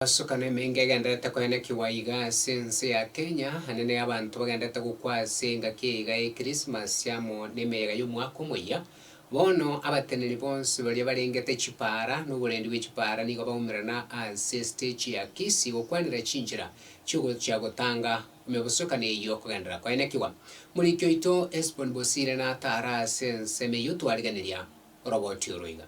Egesokano emengo egenderete koenekigwa iga ase ense ya Kenya, ane ne abanto bagenderete gokwa ase engaki eyaiga ya Ekrisimasi amo nemeyega y'omwaka omoyia. Bono abateneni bonsi baria barengete chipaara noborendi bwe chipaara nigo baumerana ase esitechi ya Kisii gokwanera chinchera chi'ogochia gotanga emebosokano eyio kogenderera koenekigwa. Moriki oito Hesbon Bosire nataara ase ensemo eyio twariganeria oroboti oro iga.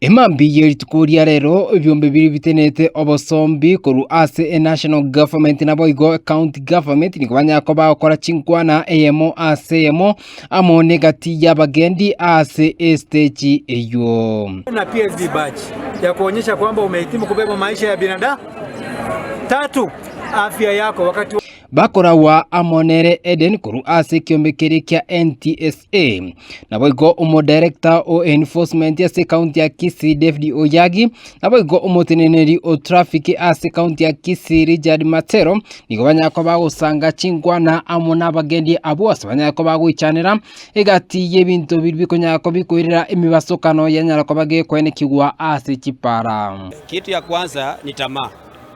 Emambia ye rituko ria rero ebiombe biria bitenenete obosombi korwa ase enational government naboigo ecounty government nigo banyare koba bagokora chinkwana eyemo ase eyemo amo n'egati y'abagendi ase estage eywo. na PhD badge ya kuonyesha kwamba umehitimu kubeba maisha ya binadamu. Tatu, afya yako wakati wa Bakoragwa amo nere Eden korwa ase ekiombe keria kia NTSA. Naboigo omodarector o enforcement ase ekaunti ya Kisii David Oyagi, naboigo omoteneneri o traffic ase ekaunti ya Kisii Richard Matero nigo banyare koba bagosanga chingwana amo nabagendi abwo ase banyare koba bagoichanera egati y'ebinto biria bikonyara koba bikoirera emibasokano yanyara koba gekwenekigwa ase chipara. Kitu ya kwanza ni tamaa.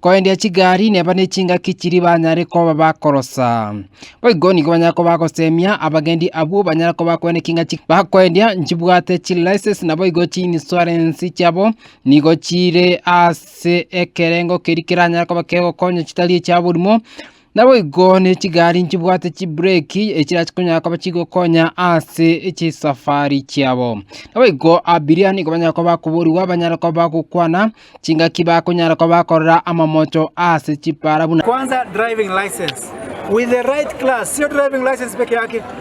Koendia chigari neba nechingaki chiri banyare koba bakorosa. Boigo nigo banyara koba bagosemia abagendi abwo banyara koba bakwena ekinga chi bakoendia nchibwate chilicense na boigo chinsurance chiabo nigo chire ase ekerengo keri keranyare koba kegokonya chitari echiaborimo Naboigo ne chigari nchibwate chibureki echirachi konyara koba chigokonya ase chisafari chiabo. Naboigo abiria nigo banyara koba bakoborigwa banyare koba bagokwana chingaki bakonyara koba bakorora amamocho ase chipara buna Kwanza driving license with the right class, sio driving license peke yake.